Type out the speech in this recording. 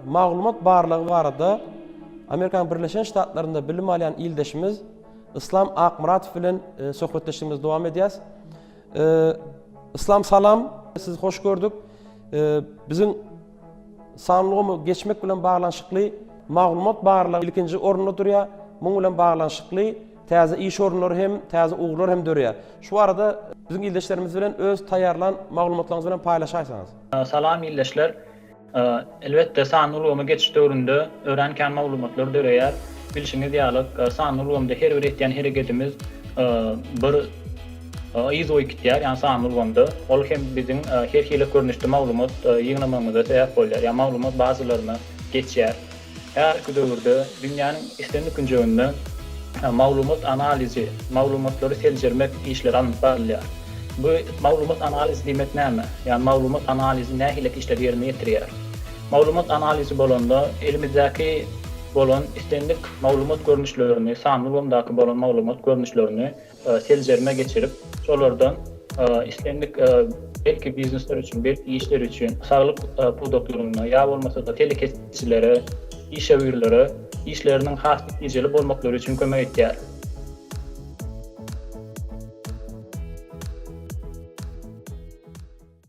Maglumat barlagy barada Amerikanyň Birleşen Ştatlarynda bilim alýan ildeşimiz Islam Akmyradow bilen e, söhbetdeşligimizi dowam edýäs. E, Islam salam, sizi hoş gördük. E, biziň sanlygymy geçmek bilen baglanyşykly maglumat barlagy ilkinji orunda durýar. Muň bilen baglanyşykly Täze iş orunlary hem, täze ugurlar hem döreýär. Şu barada biziň ildeşlerimiz bilen öz taýýarlan maglumatlaryňyz bilen paýlaşaýsaňyz. Salam ildeşler. Elbetde sanly ulgama geçiş döwründe örän kän maglumatlar döreýär. Bilşiňiz ýalyk, sanly ulgamda her bir etýän hereketimiz bir yz goýup gidýär, ýagny sanly ulgamda. Ol hem biziň her hili görnüşde maglumat ýygnamagymyza sebäp bolýar, ýagny maglumat bazalaryna geçýär. Häzirki döwürde dünýäniň islendik künjeginde maglumat analizi, maglumatlary seljermek işleri alnyp barylýar. Bu maglumat analizi diýmek näme? Ýagny maglumat analizi nähilek işleri ýerine ýetirýär? Maglumat analizi bolanda elimizdäki bolan islendik maglumat görnüşlerini, sanly ulgamdaky bolan maglumat görnüşlerini, seljerme geçirip, şolardan islendik belki biznesler üçin, belki işler üçin saglyk pudaklarynda ýa bolmasa-da telekeçilere, işewürlere işleriniň has netijeli bolmaklary üçin kömek edýär.